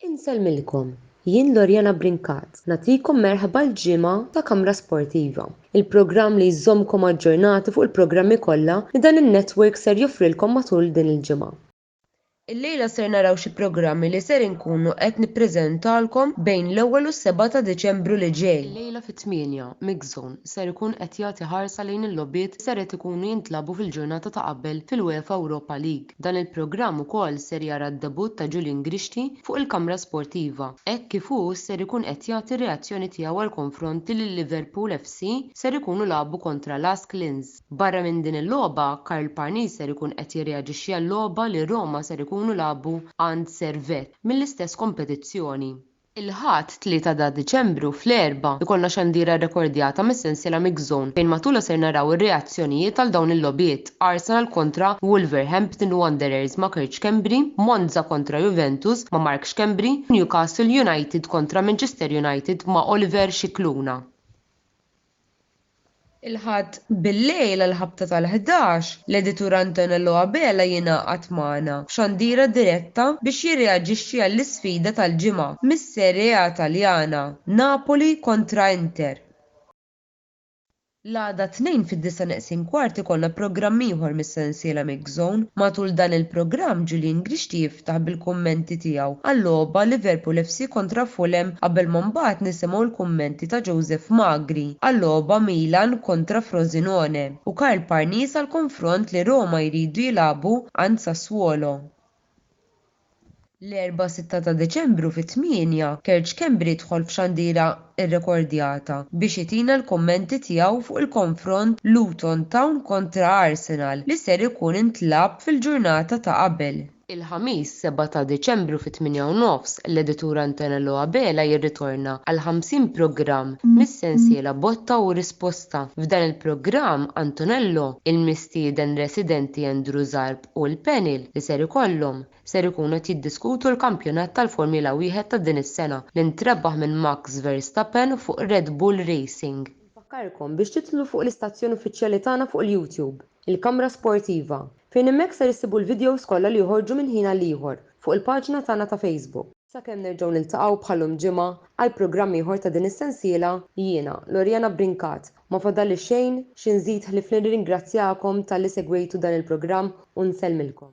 Insellmilkom, jien Loriana Brincat, nagħtikom merħba l-ġimgħa ta' Kamra Sportiva, il-programm li jżommkom aġġornati fuq il-programmi kollha li dan in-network ser joffrilkom matul din il-ġimgħa. Illejla ser naraw xi programmi li ser inkunu qed nippreżentalkom bejn l-ewwel u s-seba' ta' Diċembru li ġej. Illejla fit-tmienja, Mixzone ser ikun qed jagħti ħarsa lejn il-logħbiet li ser qed ikunu jintlagħbu fil-ġurnata ta' qabel fil-UEFA Europa League. Dan il-programm ukoll ser jara d-debutt ta' Julian Grixti fuq il-kamra sportiva, hekk kif hu ser ikun qed jagħti r-reazzjoni tiegħu għall-konfront li l-Liverpool FC ser ikunu lagħbu kontra Lask Linz. Barra minn din il-logħba, Karl Parnis ser ikun qed jirreaġixxi għal logħba li Roma ser ikunu lagħbu għand Servette mill-istess kompetizzjoni. Il-Ħadd, 3 ta' Diċembru, fl-erbgħa, ikollna xandira rrekordjata mis-sensiela Mix Zone fejn matulha ser naraw ir-reazzjonijiet għal dawn il-logħbiet, Arsenal kontra Wolverhampton Wanderers ma' Kurt Schembri, Monza kontra Juventus ma' Mark Schembri, Newcastle United kontra Manchester United ma' Oliver Scicluna. Il-Ħadd bil-lejl għall-ħabta tal-ħdax, l-Editur Antonello Abela jingħaqad magħna f'xandira diretta biex jirreaġixxi għall-isfida tal-ġimgħa mis-Serie A Taljana, Napoli kontra Inter. L-għada t-Tnejn fid-disa' neqsin kwart ikollna programm ieħor mis-sensiela Mix. Dark Zone. Matul dan il-programm Julian Grixti jiftaħ bil-kummenti tiegħu għal-logħba Liverpool FC kontra Fulham qabel ma mbagħad nisimgħu l-kummenti ta' Joseph Magri għal-logħba Milan kontra Frosinone u Karl Parnis għall-konfront li Roma jridu jilagħbu għand Sassuolo. L-Erbgħa 6 ta' Deċembru fit-tmienja, Kerġ Schembri dħol f'xandira rrekordjata biex itina l-kummenti tiegħu fuq il-konfront Luton Town kontra Arsenal li ser ikun intlagħab fil-ġurnata ta' qabel. Il-Ħamis 7 ta' Deċembru fit-tmienja u nofs, l-editur Antonello Abela jirritorna għal 50 programm mis-sensiela Botta u Risposta. F'dan il-programm, Antonello, il-mistieden residenti Andrew Zarb, u l-panel li ser ikollhom ser ikunu qed jiddiskutu l-kampjonat tal-Formula Wieħed ta' din is-sena li ntrebbaħ minn Max Verstappen fuq Red Bull Racing. Infakkarkom biex tidħlu fuq l-istazzjon uffiċjali tagħna fuq il-YouTube, il-Kamra Sportiva, fejn hemmhekk ser issibu l-videos kollha li joħorġu minn ħin għal ieħor fuq il-paġna tagħna ta' Facebook. Sakemm nerġgħu niltaqgħu bħalhom ġimgħa għal programm ieħor ta' din is-sensiela, jiena, Loriana Brincat, ma fadallix xejn xi nżid ħlief li nirringrazzjakom talli segwejtu dan il-programm u nsellmilkom.